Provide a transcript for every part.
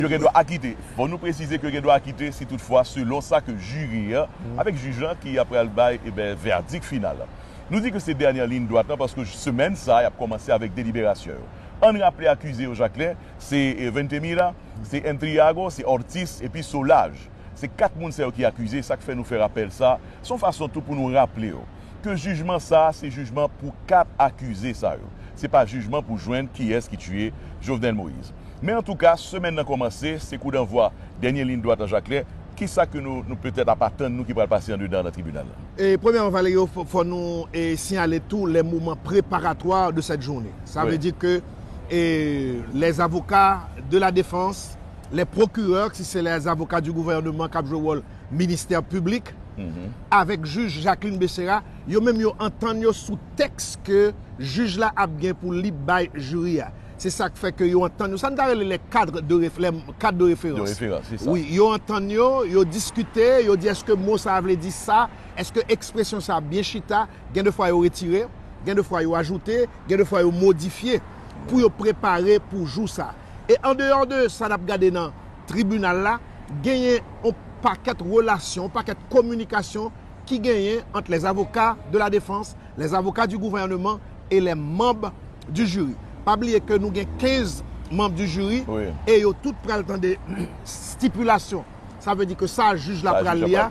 yo gen dwa akite. Bon nou presize ke yo gen dwa akite si tout fwa selon sa ke jiri an avèk jij lan ki ap pral bay e ben vèdik final lan. Nou di ke se dènyè liyn dwat lan paske semèn sa yap kòmanse avèk deliberasyon yo. Ann raple akize yo Jacquelin se Ventemilla, se Entriago, se Ortiz epi Solaj. Se 4 moun sa yo ki akize sak fè nou fè rapèl sa, son fason tou pou nou raple yo ke jijman sa se jijman pou 4 akize sa yo. Se pa jijman pou jwenn kiyès ki tiye Jovenel Moïse. Men antouka, semèn nan kòmanse, se koudanvwa dènye liyn dwat nan Jakmèl, kisa ke nou petèt ap atann nou ki pral pase andedan nan tribinal la? Premyèman Valerio, fò nou siyale tou lè moman preparatwa de sèt joune. Sa vle di ke lè zavoka de la defans, lè pwokirè, si se lè zavoka di gouvèneman kap jwe wòl ministè piblik, avèk jij Jacqueline Becerra, yo menm yo antann yo sou tèks ke jij la ap gen pou li bay jiri a. Se sa k fè ke yo antann yo. Sa n ta rele les cadres de ref, les cadres de référence. De référence, c'est ça. Wi, yo antann yo, yo diskite, yo di èske mo sa a vle di sa, èske ekspresyon sa a byen chita, gen de fwa yo retire, gen de fwa yo ajoute, gen de fwa yo modifye pou yo prepare pou jou sa a. E an deyò de sa n ap gade nan tribinal la, genyen yon pakèt relasyon, yon pakèt kominikasyon ki genyen ant les avocats de la défense, les avocats du gouvernement, et les membres du jury. Pa bliye ke nou gen 15 membres du jury et yo tout pral tande stipulation. Sa vle di ke sa jij la pral li a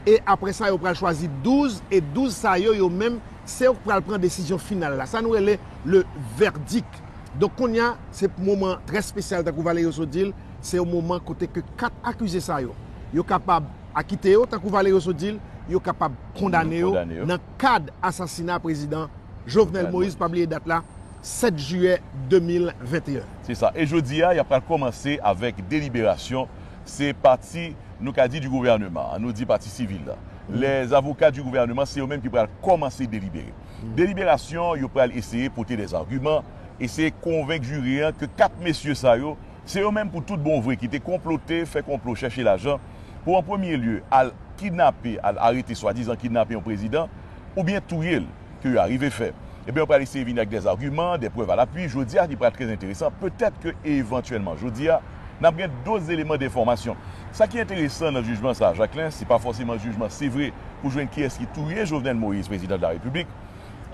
et apre sa yo pral chwazi 12 et 12 sa yo, yo menm se yo ki pral pran desizyon final la. Sa nou rele le verdict. Donk kounye a, se moman trè spesyal tankou Valerio-So di l, se yon moman kote ke 4 akize sa yo, yo kapab akite yo tankou Valerio-So di l, yo kapab kondane yo nan. kad asasina prezidan Jovenel Moïse, pa bliye dat la, 7 jiyè 2021. Se sa. E jodi a, y ap pral kòmanse avèk deliberasyon. Se pati, nou ka di, di gouvèneman an. Nou di pati sivil la. Lè zavoka di gouvèneman, se yo menm ki pral kòmanse delibere. Deliberasyon, yo pral eseye pote dèzagiman, eseye konvenk jiri an ke 4 mesye sa yo Se yo menm pou tout bon vre ki te konplote, fè konplo, chèche lajan, pou an premye lye al kidnape, al arete swadizan kidnape yon prezidan, oubyen touye l, ke yo arive fè. Ebyen yo pral eseye vini ak dè agiman, dè prèv alapui, jodi a ki pral trè enteresan, petèt ke evantyèlman jodi a, n ap gen doz eleman denfòmasyon. Sa ki enteresan nan jijman sa a Jaklen, se pa fòseman jijman se vre pou jwenn kiyès ki touye Jovenel Moïse, prezidan de la Repiblik,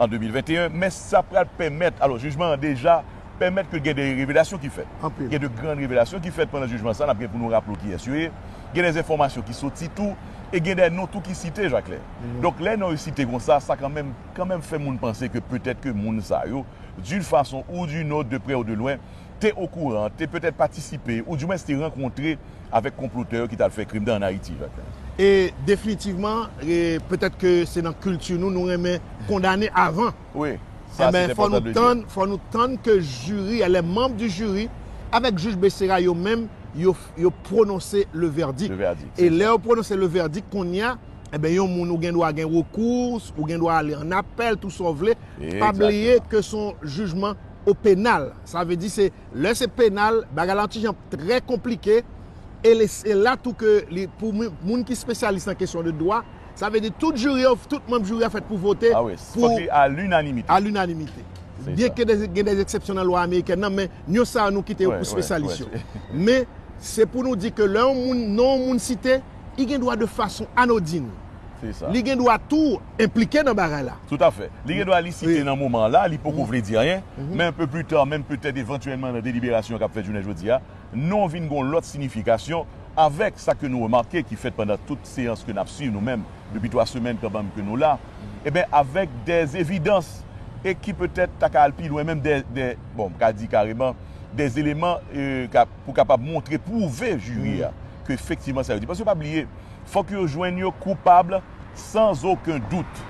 an 2021, men sa pral pèmèt, alò jijman an deja, pèmèt ke gen de revelasyon ki fèt. Gen de gran revelasyon ki fèt pandan jijman sa, n ap gen pou nou raple w kiyès yo ye. Gen de enfòmasyon ki soti tou, e gen de non tou ki site, Jakle. Donk, lè non yo site kon sa, sa kanmenm, kanmenm fè moun panse ke petèt ke moun sa yo, d'une façon ou d'une autre, de près ou de loin, te okouran, te petèt patisipe, ou du mwens te rankontre avèk konplotè yo ki t al fè krim nan ann Ayiti, Jakle. E definitivman, petèt ke se nan kilti nou, nou renmen kondane avan. Wi, sa se te pòtan de di. Fò nou tann ke jiri a, les membres du jury, avèk jij Becerra yo menm, yo pwononse le verdict. Le verdict, se sa. E lè yo pwononse le verdict, kounye a, enben yon moun ou gen dwa gen recours, ou gen dwa ale an appel, tou sa w vle. Exactement. Pa bliye ke se yon jijman au pénal. Sa vle di se, lè se penal, bagay la yon ti jan trè konplike, e se la tou ke li, pou moun ki spesyalis nan kesyon de dwa, Sa vle di tout juri yo, tout manb juri a fèt pou vote pou. Ah wi, fòk li a linanimite. A linanimite. Byen ke gen dè eksepsyon nan lwa amerikèn nan, men yon sa a nou kite yo pou spesyalis yo. Men, se pou nou di ke lè yon moun, non yon moun site, li gen dwa de fason anodin. Se sa. Li gen dwa tou enplike nan bagay la. Tout a fè. Li gen dwa li site nan moman an la, li poko vle di anyen, men anpe pli ta, menm petèt evantyèlman nan deliberasyon k ap fèt jounen jodi a, non vin gon lòt sinifikasyon avèk sa ke nou remake ki fèt pandan tout seyans ke nap swiv nou menm depi 3 semèn kanmèm ke nou la eben avèk dè evidans e ki petèt ta ka al pi lwen menm dè bon m ka di kareman dè eleman pou kapab montre pwouve jiri a ke efektivman sa yo di paske pa bliye fòk yo jwenn yo koupab san oken dout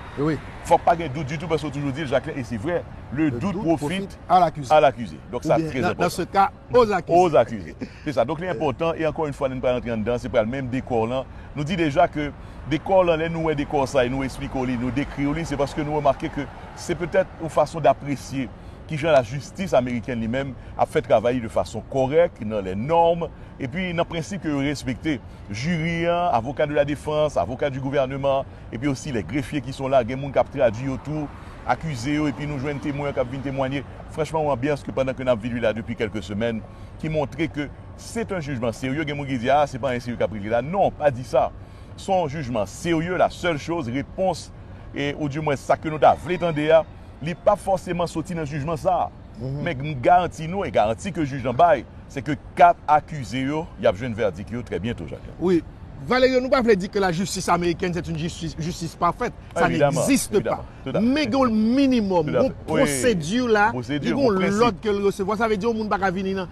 fòk pa gen dout ditou paske ou toujou dil Jacquelin e se vrè le doute profite a l'accuse donk sa trè enpòtan. Aux accusés. Se sa. Donk li enpòtan e ankò yon fwa lè nou pral antre anndan se pral menm dekò lan. Nou di deja ke dekò lan lè nou wè dekò sa e nou esplike w li, nou dekri w li se paske nou remake ke se petèt yon fason dapresye kijan lajistis amerikèn li menm ap fè travay li de fason kòrèk, nan les normes epi nan prensip ke yo respekte. Jiri an, avoka de la defans, avoka du gouvernement, epi osi lè grefye ki son la gen moun kap tradwi yo tou, akize yo epi nou jwenn temwen kap vin temwanye, franchman yon anbyans ke pandan ke nap viv li la depi kèlke semèn ki montre ke se ton jijman serye, gen moun ki di a se pa anyen serye kap regle la, non pa di sa son jijman serye la sèl choz repons e ou di mwens sa ke nou ta vle tande a li pap fòseman soti nan jijman sa. Men m garanti nou e garanti ke jij lan bay, se ke 4 akize yo, y ap jwenn vèdik yo trè byento, Jacques Jean. Wi. Valerio, nou pa vle di ke la jistis amerikèn se t yn jistis pafèt. Sa n egziste pa. Men gen yon minimòm, yon pwosedi la, li gen yon lòd ke l resevwa. Sa vle di yon moun pa ka vini nan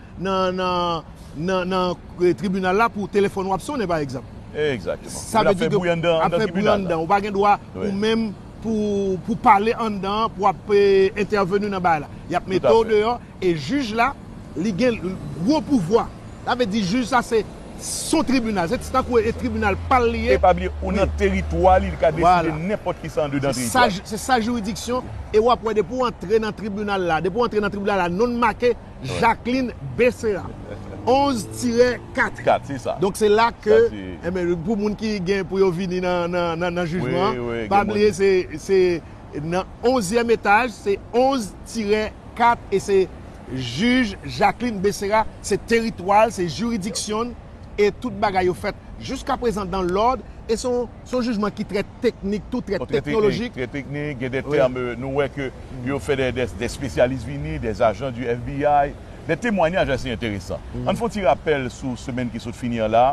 tribinal la pou telefòn ou ap sonnen pa egzanp. Egzakteman. Sa vle di ke ap fè bri anndan. Ou pa gen dwa ou menm. pou pou pale anndan an pou ap entèveni nan bagay la yap mete w deyò e jij la li gen gwo pouvwa sa vle di jij sa se son tribinal se tankou e tribinal pa l li ye e pa bliye ou nan teritwa li li ka deside nenpòt kisa andedan teritwa li se sa jiridiksyon e wap wè depi w antre nan tribinal la depi w antre nan tribinal la non w make. Jacqueline Becerra 11 tirè 4 donk se la ke pou moun ki gen pou yo vini nan jijman pa bliye se nan 11 yèm etaj se 11 tirè 4 e se jij Jacqueline Becerra se teritwal se jiridiksyon e tout bagay yo fèt jiska prezan dan lòd e son Se yon jijman ki trè teknik tou, trè teknolojik. Trè teknik, gen de tèm nou wè ke yo fè de espesyalis vini, de ajan di FBI, de temwanyaj ase enteresan. Ann fè yon ti rapèl sou semèn ki sot fini an la,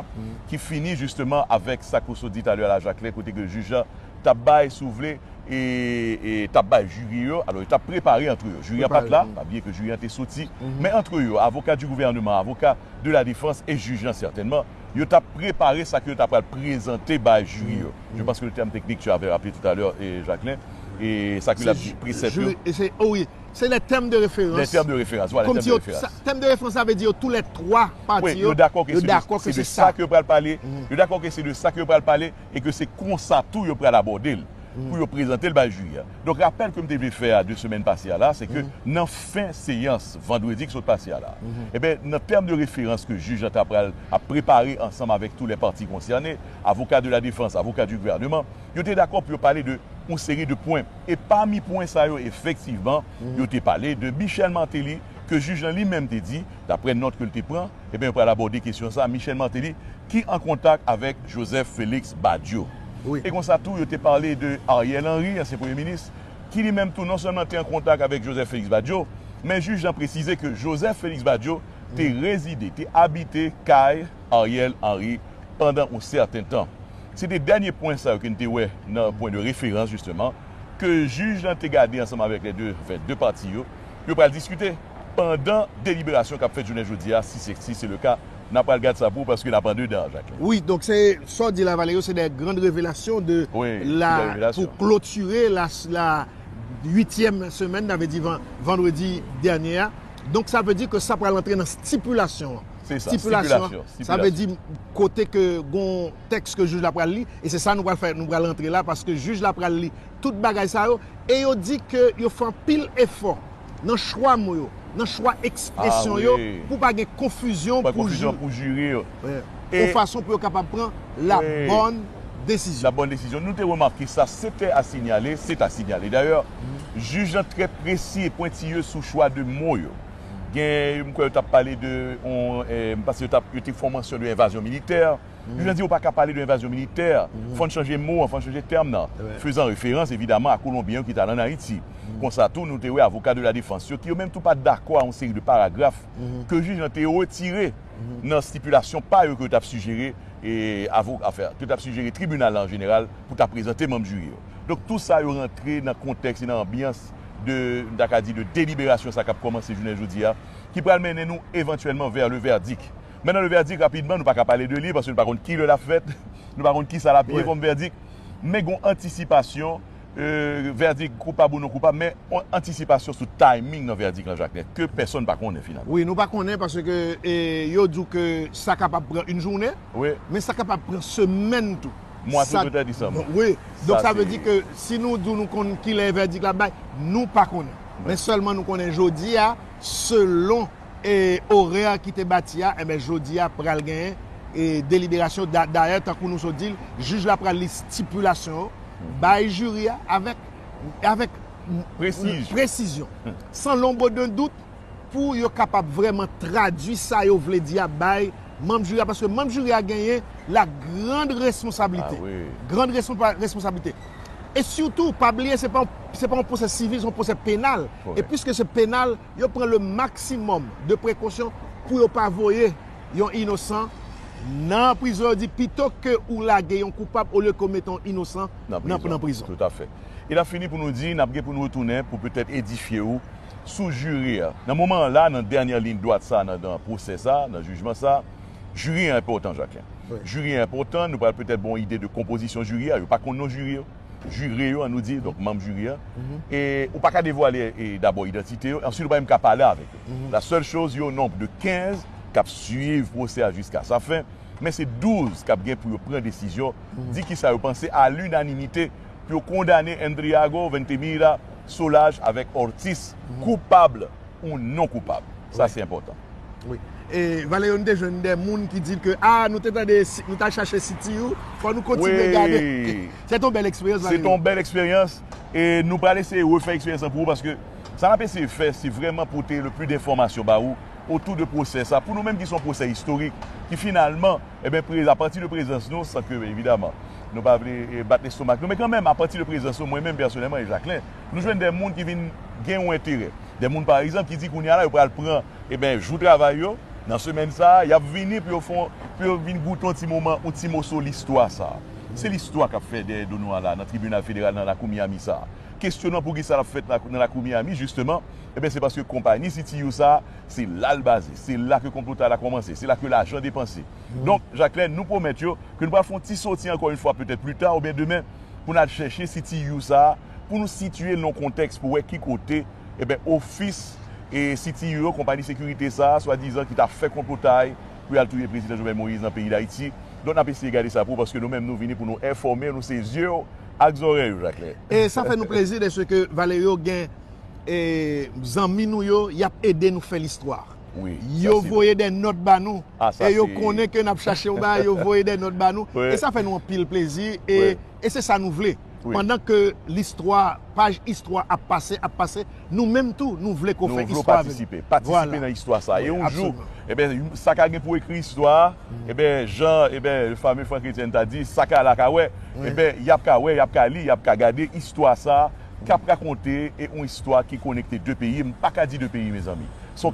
ki fini jisteman avèk sa ke w sot di talè a Lajakle kote ke jij la t ap bay, si w vle, t ap bay jiri yo, alò yo t ap prepare antre yo. Jiri an pa t la, pa bliye ke jiri an te soti, men antre yo, avoka di gouvèneman, avoka de la defans e jij la sètènman, yo t ap prepare sa ke yo ta pral prezante bay jiri yo. Je panse ke le terme technique tu avais rappele tout à l'heure Jacquelin, e sa ke l ap di presèp yo. Wi, se les termes de référence. Les termes de référence, voilà, termes de référence. Termes de référence sa vle di yo tou lè twa pati yo dakò ke se de sa ke yo pral pale, yo dakò ke se de sa ke yo pral pale. e ke se konsa tou yo pral abòde l pou yo prezante l bay jiri a. Donk rapèl ke m te vle fè a de semèn pase a la, se ke nan fen seyans vandredi ki sot pase a la, enben nan tèm de referans ke jij la ta pral ap prepare ansanm avèk tou lè pati konsène, avoka de la defans, avoka di gouvèneman, yo te dakò pou yo pale de yon seri de pwen. E pami pwen sa yo efektivman yo te pale de Michel Martelly ke jij lan li menm te di, Daprè nòt ke l te pran, eben yo pral abòde kesyon sa a, Michel Martelly ki an kontak avèk Joseph Felix Badio. E konsa tou yo te pale de Ariel Henry, ansyen premye minis, ki li menm tou non sèlman te an kontak avèk Joseph Felix Badio, men jij lan presize ke Joseph Felix Badio te rezide, te abite kay Ariel Henry pandan yon sèten tan. Se te dènye pwen sa yo ke n te wè nan pwen de referans jisteman ke jij lan te gade ansanm avèk lè de, anfen, de pati yo, yo pral diskite. pandan deliberasyon kap fèt jounen jodi a si se si se le ka nan pral gad sa pou paske nap andedan an Jacquelin. Wi donk se sa w di la Valerio se de grand revelasyon de la pou klotire la la uityèm semèn sa vle di van vandredi dènye a donk sa vle di ke sa pral antre nan stipilasyon an Se sa stipilasyon stipilasyon sa vle di kote ke gon tèks ke jij la pral li e se sa nou pral fè nou pral antre la paske jij la pral li tout bagay sa yo e yo di ke yo fè anpil efò. nan chwa mo yo, nan chwa ekspresyon yo pou pa gen konfizyon pou jiri yo, yon fason pou yo kapab pran labòn desizyon. Nou te remake sa, se te a sinyale, se ta sinyale dayè, jij lan trè presi e pwentiye sou chwa de mo yo. Gen, m kwè yo t ap pale de, m panse yo te fè yon mansyon de envazyon militè. Li vle di ou pa ka pale de envazyon militè. Fò n chanje mo an, fò n chanje tèm nan. Fezan referans, evidaman, a Kolonbyen yo ki t al ann Ayiti. Konsa tou, nou te wè avoka de la defans yo, ki yo menm tou pa t dakò a yon seri de paragraf ke jij lan te retire nan stipilasyon pa yo ke yo t ap sijere avoka, anfen, ke yo t ap sijere tribinal la an jeneral pou ta prezante manm jiri yo. Donk, tou sa yo rantre nan kontèks e nan anbyans de, m ta ka di, de deliberasyon sa k ap kòmanse jounen jodi a, ki pral mennen nou evantyèlman vè le verdict. Men nan le vèdik rapidman nou pa ka pale de li paske nou pa konn ki lè l ap fèt, nou pa konn ki sa l ap ye kòm vèdik men gen yon antisipasyon vèdik koupab ou non koupab men yon antisipasyon sou timing nan vèdik lan Jaknèt ke pèsonn pa konnen finalman. Wi nou pa konnen paske yo di w ke sa kapab pran yon jounen men sa kapab pran semèn tou. Mwa se petèt Desanm. Wi donk sa vle di ke si nou di w nou konn ki lè vèdik la ap bay nou pa konnen men sèlman nou konnen jodi a selon. E orè ki te bati a, enben jodi a pral gen deliberasyon. Dayè, tankou nou sot di l, jij la pral li stipilasyon yo bay jiri a avèk presizyon, san lonbo de dout, pou yo kapab vrèman tradui sa yo vle di a bay manm jiri a. Paske manm jiri a genyen la grand responsablite. Grand responsablite. E sitou, pa bliye se pa yon pwosè sivil, se yon pwosè penal. E piske se penal. Yo pran le maksimòm de prekosyon pou yo pa voye yon inosan nan prizon. Yo di pito ke ou lage yon koupab olye ke ou mete yon inosan nan prizon. Tout afè. E n ap fini pou nou di n ap gen pou nou retounen pou petèt edifye ou sou jiri a. Nan moman an la, nan dènyè liy dwat sa nan nan pwosè sa, nan jijman sa, jiri a enpòtan Jacquin. Jiri a enpòtan, nou pral petèt ba w yon ide de konpozisyon jiri a. Yo pa konn non jiri yo. jire yo an nou di, donk manm jiri a, e ou pa ka devwale dabò idantite yo, answit ou pa menm ka pale avèk yo. La sèl choz yo nonb de 15 k ap swiv pwosè a jiska sa fen, men se 12 k ap gen pou yo pran desizyon, di kisa yo panse a linanimite pou yo kondane Endriago, Ventimiglia, Solages avèk Ortiz koupab. ou non koupab. Sa se enpòtan. Wi. E Valerio nou te jwenn de moun ki di ke ah nou te tande nou tal chache siti ou fò nou kontinye gade. Wi. Se te yon bèl eksperyans Valerio. Se te yon bèl eksperyans e nou pral eseye refè eksperyans lan pou ou paske sa nap eseye fè se vrèman pote le pli de enfòmasyon ba ou otou de pwosè sa pou nou menm ki se yon pwosè istorik ki finalman eben pre a pati de prezans nou san ke evidaman nou pa vle bat lestomak nou men kan menm a pati de prezans nou mwen menm pèsonèlman e Jaklen nou jwenn de moun ki vin gen yon enterè. De moun pa egzanp ki di kounye a la yo pral pran eben jou travay yo nan semèn sa a y ap vini pou yo fè yon, pou yo vin goute yon ti moman, yon ti moso listwa sa a. Se listwa k ap fè dèyè do nou an la a nan tribinal federal nan lakou Miami sa a. Kesyon nan poukisa l ap fèt nan lakou Miami jisteman, eben se paske konpayi CTU sa a se la l baze, se la ke konplotay la kòmanse, se la ke lajan depanse. Donk, Jaklèn, nou pwomèt yo ke nou pral fè yon ti soti ankò yon fwa petèt pli ta oubyen demen pou n al chèche CTU sa a, Pou nou sitiye nan kontèks pou wè ki kote eben ofis e CTU yo, konpayi sekirite sa a, swadizan ki ta fè konplotay pou y al touye Prezidan Jovenel Moïse nan peyi Dayiti. Donk n ap eseye gade sa pou ou paske nou menm nou vini pou nou enfòme nou se zye w ak zòrèy ou Jaklen. E sa fè nou plezi dèske Valerio gen e zanmi nou yo y ap ede nou fè listwa. Yo voye dè nòt ba nou e yo konnen ke n ap chache yon bagay yo voye dè nòt ba nou e sa fè nou anpil plezi e E se sa nou vle. Pandan ke listwa, paj istwa ap pase, ap pase, nou menm tou nou vle ke w fè istwa avè nou. Patisipe nan istwa sa. E yon jou, eben, sa ka gen pou ekri istwa a, eben, jan, eben, le fameux Franck Etienne ta di, sa ka la ka wè, eben, y ap ka wè, y ap ka li, y ap ka gade istwa sa k ap rakonte e yon istwa ki konekte de peyi, m pa ka di de peyi, mezanmi. S on.